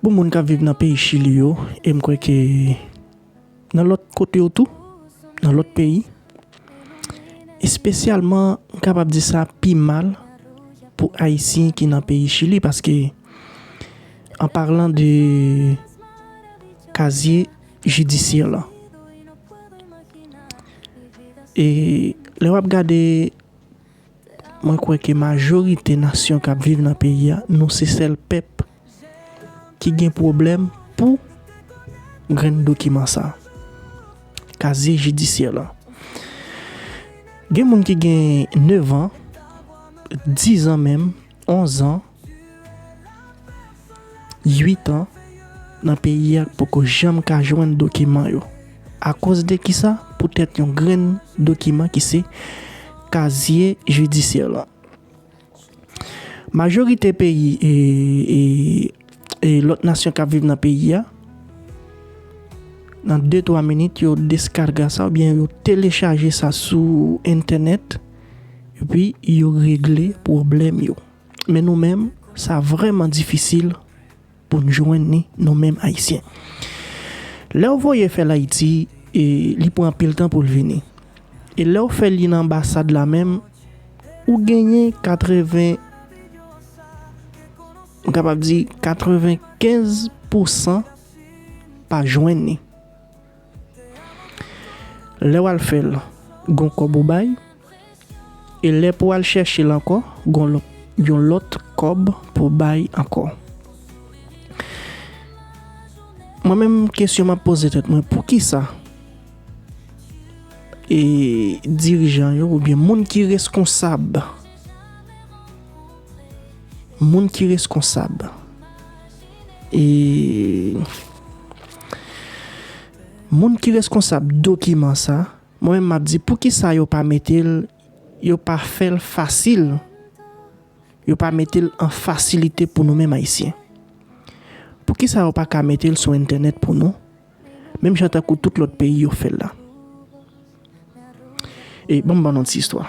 Pou moun kap viv nan peyi chili yo e m kwè ke nan lòt kote yo tou, nan lòt peyi, espesyalman m kapab di sa pi mal pou ayisyen ki nan peyi chili paske an parlan de kazye jidisyè lan. E lè wap gade Mwen kwè ke majorite nasyon kap viv nan peyi a nou se sèl pèp ki gen pwoblèm pou grenn dokiman sa kazye jidisyè lan gen moun ki gen 9 ans 10 ans menm 11 ans. 8 an nan peyi a k poko janm ka jwenn dokiman yo. Akoz de kisa? Poutèt yon grenn dokiman ki se kazye jidisyè lan. Majorite peyi e lòt nasyon k ap viv nan peyi a, nan de twa minit yo deskarga sa oubyen yo telechaje sa sou entènèt epi yo regle pwoblèm yo. Men nou menm, sa vrèman difisil pou n jwenn ni, nou menm Ayisyen. Lè w voye fè l Ayiti, li pran anpil tan pou l vini. E lè w fè li nan anbasad la menm, ou genyen 80, m kapab di 95 pousan pa jwenn ni. Lè w al fè l, gon kòb ou bay, e lè pou w al chèche l ankò, gon yon lòt kòb pou w bay ankò. Mwen menm kesyon m ap poze tèt mwen, pou ki sa e dirijan yo oubyen moun ki reskonsab, moun ki reskonsab. E Moun ki reskonsab dokiman sa, mwen menm map di poukisa yo pa metel yo pa fèl fasil yo pa metel an fasilite pou nou menm ayisyen. Poukisa yo paka metel sou entènèt pou nou menm jan tankou tout lòt peyi yo fèl la. E banm ban nou ti istwa.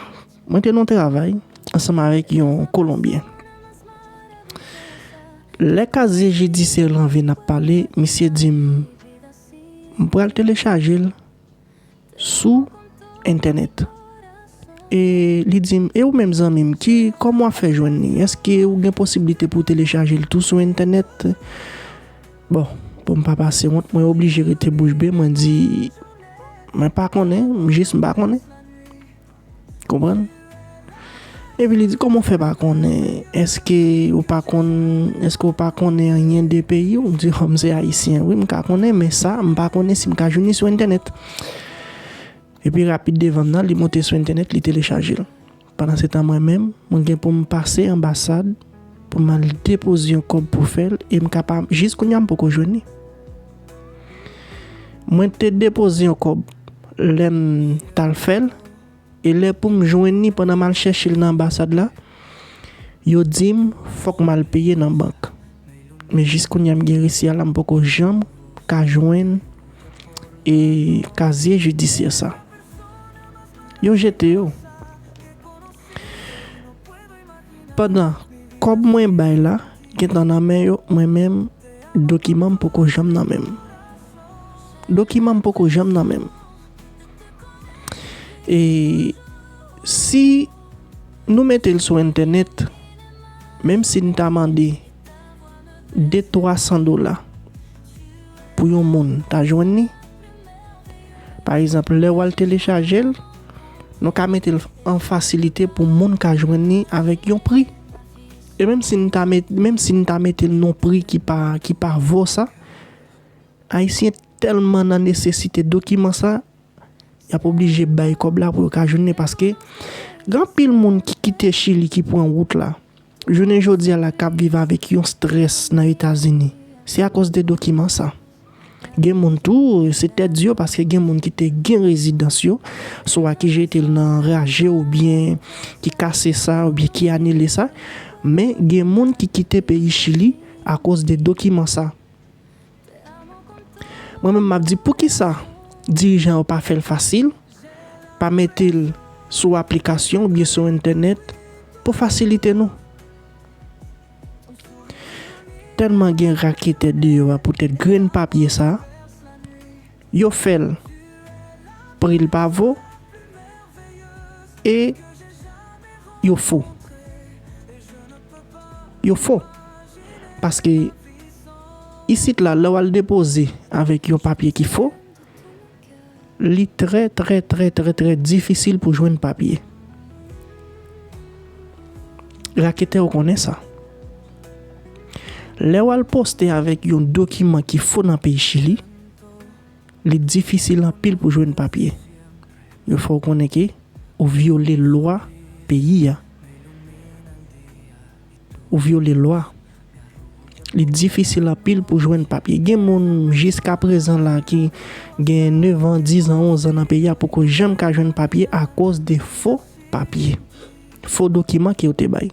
Mwen te nan yon travay ansanm avèk yon kolonbyen. Lè kazye jidisyè lan vin ap pale, misye di m, m pral telechaje l sou entènèt. E li di m, e ou menm zanmi m, ki, kòman w ap fè jwenn li? Èske ou gen posiblite pou w telechaje l tou sou entènèt? Bon, pou m pa pase wont, mwen oblije rete bouch be, mwen di, Mwen pa konnen, m jis m pa konnen. Konprann? Epi li di, Kòman w fè pa konnen? Èske ou pa konn, èske ou pa konnen anyen de peyi ou? M di, Hò, m se Ayisyen. Wi, m ka konnen, men sa, m pa konnen si m ka jwenn li sou entènèt. Epi rapid devan m nan, li monte sou entènèt, li telechaje l. Pandansetan mwen menm, mwen gen pou m pase anbasad pou m al depoze yon kòb pou fè l e m ka pa jis kounye a m poko jwenn li. Mwen te depoze yon kòb lè m t al fè l e lè pou m jwenn li pandan m al chèche l nan anbasad la, yo di m fòk m al peye nan bank. Men jis kounye a m gen resi a la m poko janm ka jwenn kazye jidisyè sa. Yo jete yo. Pandan kòb mwen bay la gentan nan men yo mwen menm dokiman m poko janm nan menm. Dokiman m poko janm nan menm. E si nou mete l sou entènèt menm si n ta mande de 300 dola pou yon moun ta jwenn li. Pa egzanp, lè wal telechaje l, nou ka mete l an fasilite pou moun ka jwenn li avèk yon pri. E menm si n ta mete, menm si n ta mete l non pri ki pa, ki pa vo sa, Ayisyen tèlman nan nesesite dokiman sa, y ap oblije bay kòb la pou yo ka jwenn li paske gen anpil moun ki kite Chili ki pran wout la. Jounen jodi a la kap viv avèk yon strès nan Etazini, se akòz de dokiman sa. Gen moun tou, se tèt di yo paske gen moun ki te gen rezidans yo, swa ki jete l nan raje oubyen ki kase sa oubyen ki anile sa, men gen moun ki kite peyi Chili akòz de dokiman sa. Mwen menm map di poukisa dirijan yo pa fèl fasil, pa metel sou aplikasyon oubyen sou entènèt pou fasilite nou. Tèlman gen raketè deyò a poutèt grenn papye sa. Yo fè l. Pri l pa vo. E yo fo. Yo fo. Paske isit la lè w al depoze avèk yon papye ki fo, li trè trè trè trè trè difisil pou jwenn papye. Raketè yo konnen sa. Lè w al poste avèk yon dokiman ki fo nan peyi Chili. Li difisil anpil pou jwenn papye. Yo fè w konnen ke ou vyole lwa peyi a. Ou vyole lwa. Li difisil anpil pou jwenn papye. Gen moun jiska prezan la ki gen 9 an, 10 an, 11 an nan peyi a poko janm ka jwenn papye akoz de fo papye. Fo dokiman ke yo te bay.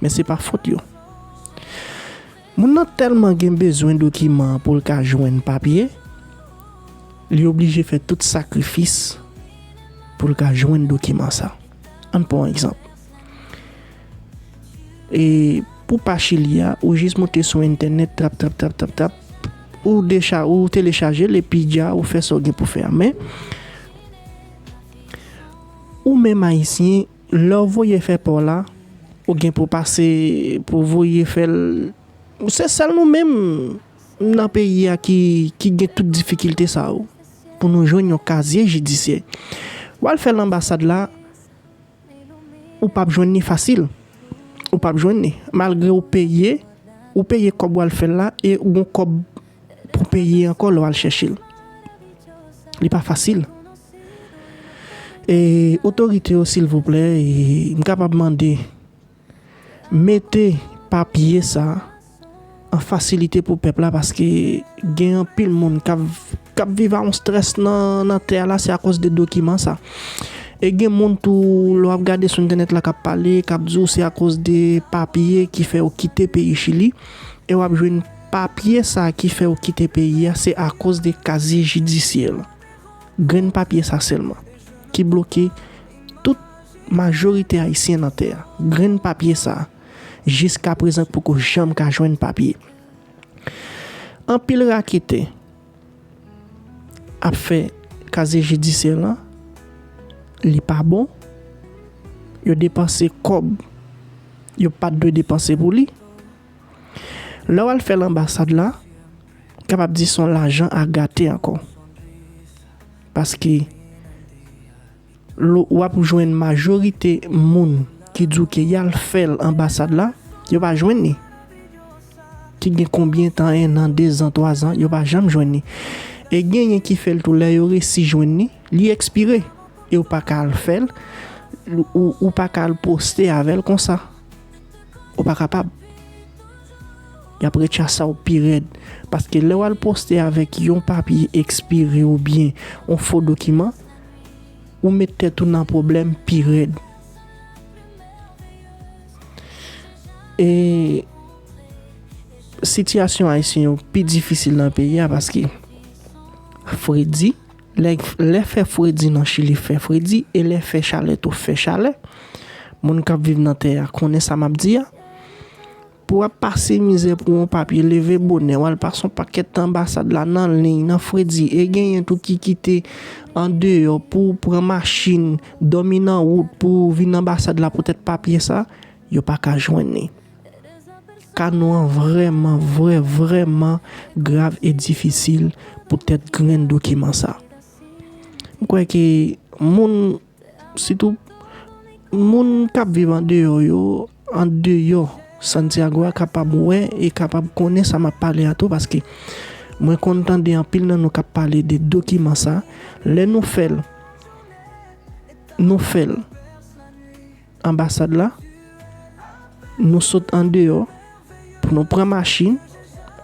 Men se pa fot yo. Moun nan tèlman gen bezwen dokiman an pou l ka jwenn papye, li oblije fè tout sakrifis pou l ka jwenn dokiman sa. An n pran yon egzanp, e pou pa Chili a, ou jis moute sou entènèt, trap trap trap trap trap, ou telechaje l epi dja ou fè sa w gen pou fè a. Men, ou menm Ayisyen, Lè w voye fè paw la, ou gen pou pase pou w voye fè l Se sèl nou menm nan peyi a ki ki gen tout difikilte sa yo pou nou jwenn yon kazye jidisyè. W al fè l anbasad la, ou pap jwenn ni fasil. Ou pap jwenn ni. Malgre ou peye, ou peye kòb w al fè l la e ou gon kòb. pou peye ankò lè w al chèche l. Li pa fasil. E otorite yo silvouplè, m kapab mande, mete papye sa an fasilite pou pèp la paske gen anpil moun k ap viv a yon strès nan tè a la se akoz de dokiman sa. E gen moun tou lè w ap gade sou entènèt la k ap pale, k ap di w se akoz de papye ki fè yo kite peyi Chili e w ap jwenn. Papye sa ki fèw kite peyi a se akoz de kazye jidisyè lan. Grenn papye sa sèlman ki bloke tout majorite ayisyen nan tè a. Grenn papye sa jiska prezan poko janm ka jwenn papye. Anpil raketè ap fè kazye jidisyè lan li pa bon. Yo depanse kòb yo pat dwe depanse pou li. Lè wal fèl anbasad la kapab di son lajan a gate ankò paske lou wap jwenn majorite moun ki di w ke yal fèl anbasad la yo pa jwenn ni ki gen konbyen tan 1 an 2 zan 3 zan yo pa janm jwenn ni e genyen ki fèl tou lè yo resi jwenn ni li ekspire e w paka al fèl ou paka al poste avèl konsa. Ou pa kapab. Y ap rechasa w pi rèd. Paske lè w al poste avèk yon papye ekspire oubyen yon fo dokiman, ou met tèt ou nan pwoblèm pi rèd. E sitiyasyon Ayisyen yo pi difisil nan peyi a paske fredi. Lè fè fredi nan Chili fè fredi e lè fè chalè tou fè chalè. Moun k ap viv nan tè a konnen sa m ap di a. Pou w ap pase mizè pou yon papye, leve bonè, w al pase yon pakèt tan anbasad la nan liy, nan fredi e genyen tou ki kite andeyò pou pran machin, dòmi nan wout pou vin anbasad la poutèt papye sa, yo pa ka jwenn li. Ka nou an vrèman, vrè, vrèman grav e difisil poutèt grenn dokiman sa. M kwè ke moun, sitou moun k ap viv andeyò yo, andeyò Santiago a kapab wè e kapab konnen sa m ap pale a tou paske mwen konn tande anpil nan nou k ap pale de dokiman sa. Lè nou fè l, nou fè l. anbasad la, nou sot andeyò pou nou pran machin,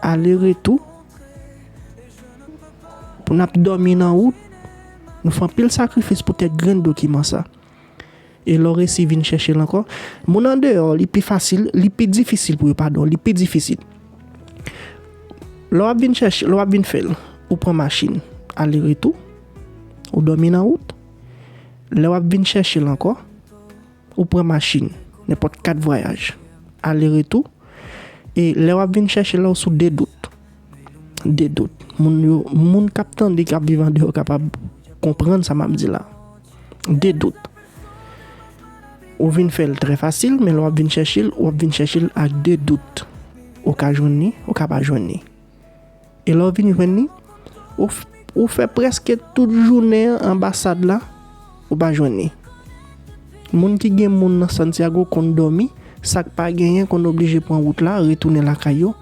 ale retou, pou n ap dòmi nan wout, nou fè anpil sakrifis pou kèk grenn dokiman sa. E lè w resi vin chèche l ankò, moun andeyò li pi fasil, li pi difisil pou yo, padon, li pi difisil. Lè w ap vin chèche, lè w ap vin fè l, ou pran machin ale retou, ou dòmi nan wout. Lè w ap vin chèche l ankò, ou pran machin, nenpòt kat vwayaj, ale retou, e lè w ap vin chèche l la ou sou de dout. De dout. Moun yo, moun k ap tande, k ap viv andeyò kapab konprann sa m ap di la. De dout. Ou vin fè l trè fasil, men lè w ap vin chèche l, ou ap vin chèche l ak de dout. Ou ka jwenn li, ou ka pa jwenn li. E lè w vin jwenn li, ou fè prèske tout jounen an anbasad la, ou pa jwenn li. Moun ki gen moun nan Santiago konn dòmi, sa k pa genyen konn oblije pran wout la, retounen lakay yo.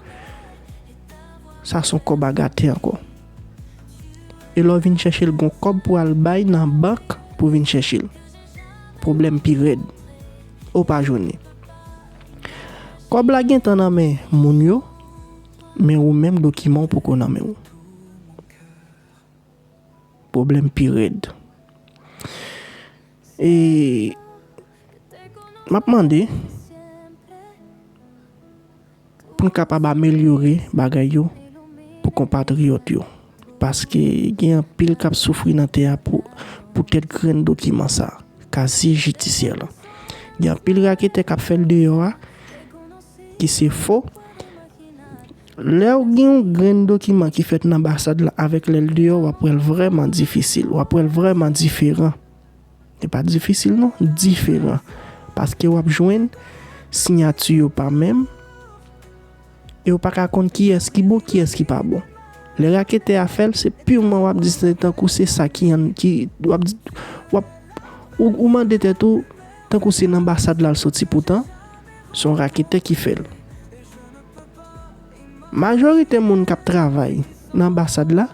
Sa son kòb a gate ankò. E lè w vin chèche l gon kòb pou al bay nan bank pou vin chèche l. Pwoblèm pi rèd. Ou pa jwenn li. Kòb la gentan nan men moun yo. Men ou menm dokiman w poko nan men w. Pwoblèm pi rèd. E m ap mande pou n kapab amelyore bagay yo pou konpatriyòt yo. Paske gen anpil k ap soufri nan tè a poutèt grenn dokiman sa a, kaziye jidisyè lan. Gen anpil raketè k ap fè l deyò a, ki se fo. Lèw gen yon grenn dokiman ki fèt nan anbasad la avèk lèl deyò wap wèl vrèman difisil, wap wèl vrèman diferan. Li pa difisil non, diferan. Paske wap jwenn siyati yo pa menm, e ou pa ka konn kiyès ki bon, kiyès ki pa bon. Lè raketè a fèl, se pirman wap di se tankou se sa ki an, ki wap di, wap, ou mande tèt ou. Tankou se nan basad lal soti poutan son raketè ki fèl. Majorite moun kap travay nan anbasad la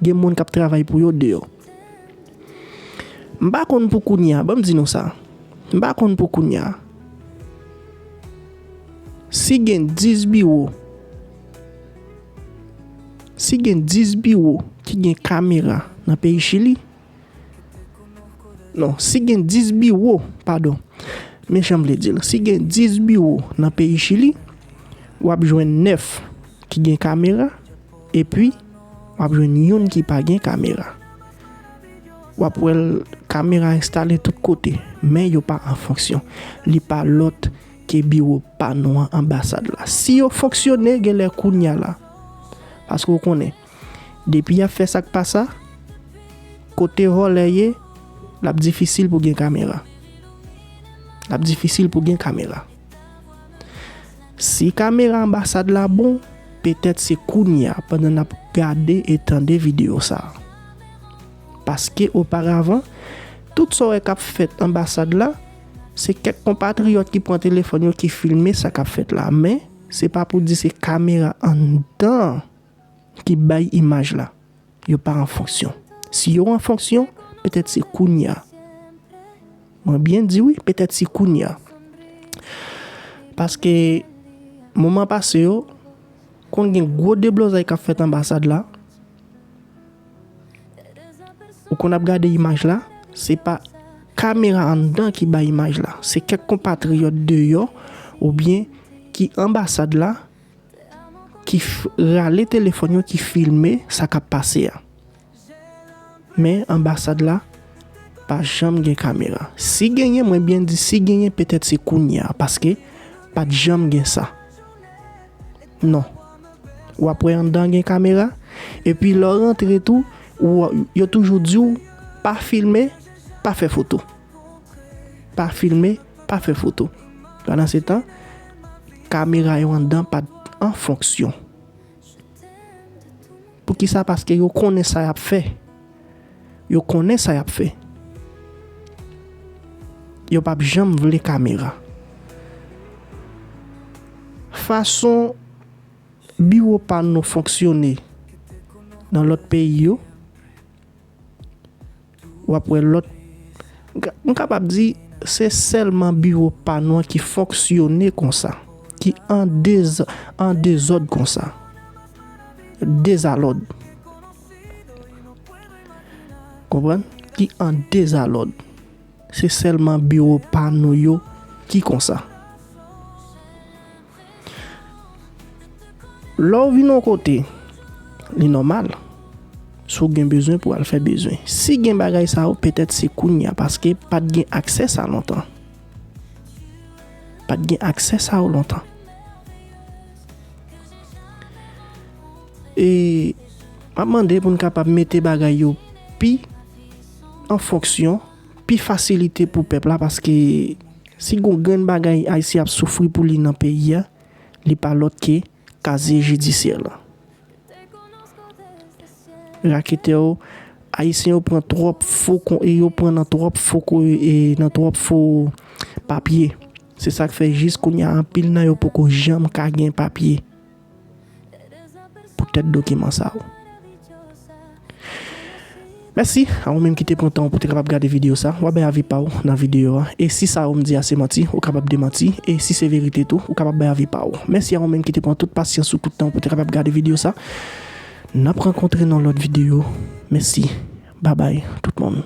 gen moun kap travay pou yo deyò. M pa konn pou kounya banm di nou sa m pa konn pou kounya si gen 10 biwo si gen 10 biwo ki gen kamera nan peyi chili. Non, si gen 10 biwo, padon, men jan m vle di l, si gen 10 biwo nan peyi Chili, w ap jwenn 9 ki gen kamera, epi w ap jwenn youn ki pa gen kamera. W ap wè l, kamera enstale tout kote, men yo pa an fonksyon. Li pa lòt ke biwo pa nou an, anbasad la. Si yo fonksyone, genlè kounye a la, paske w konnen, Depi yap fè sak pa sa, kote vòlè ye, lap difisil pou gen kamera. Lap difisil pou gen kamera. Si kamera anbasad la bon, petèt se kounya pandan nap gade e tande video sa. Paske oparavan, tout sa w wè kap fèt anbasad la, se kèk konpatriyòt ki pran telefòn yo ki filme sa kap fèt la. Men, se pa pou di se kamera anndan. ki bay imaj la, yo pa an fonksyon. Si yo an fonksyon, petèt se kounye a. Mwen byen di wi, petèt se kounye a. Paske, moman pase yo, konn gen gwo deblozay k ap fèt anbasad la, ou konn ap gade imaj la, se pa kamera anndan ki bay imaj la, se kèk konpatriyòt deyò oubyen ki anbasad la ki rale telefòn yo ki filme sa k ap pase a. Men anbasad la pa janm gen kamera. Si genyen, mwen byen di si genyen petèt se kounye a paske pa t janm gen sa. Non. W ap wè anndan an gen kamera epi lè w rantre tou yo toujou di w pa filme, pa fè foto. Pa filme, pa fè foto. Pandansetan. Kamera yo andan pat an fonksyon. Poukisa paske yo konnen sa yap fè. Yo konnen sa yap fè. Yo pap janm vle kamera. Fason biwo pa nou fonksyone nan lòt peyi yo. W ap wè lòt. M kapab di, se sèlman biwo pa nou an ki fonksyone konsa, ki an dez, an dezòd konsa. Dezalòd. Konprann? Ki an dezalòd. Se sèlman biwo pa nou yo ki konsa. Lè w vin yon kote, li nòmal si w gen bezwen pou w al fè bezwen. Si gen bagay sa yo, petèt se kounye a paske pa t gen aksè sa lontan. Pa t gen aksè sa yo lontan. E m ap mande pou n kapab mete bagay yo pi an fonksyon, pi fasilite pou pèp la paske. Si gon grenn bagay Ayisyen ap soufri pou li nan peyi a, li pa lòt ke kazye jidisyè lan. Raketè yo, Ayisyen yo pran twòp fo kon e yo pran nan twòp fo ko e nan twòp fo papye. Se sa k fè jis kounye a anpil nan yo poko janm ka gen papye. Pou tèt dokiman sa ou. Mèsi a ou menm ki te pran tan ou pou te kapab gade videyo sa. Wap bay avi pa ou nan videyo a. E si sa ou m di a se manti, ou kapab demanti. E si se verite tou, ou kapab bay avi pa ou. Mèsi a ou menm ki te pran tout pasyans ou, tout tan ou pou te kapab gade videyo sa. Nap rankontre nan lòt videyo. Mèsi. Babay tout moun.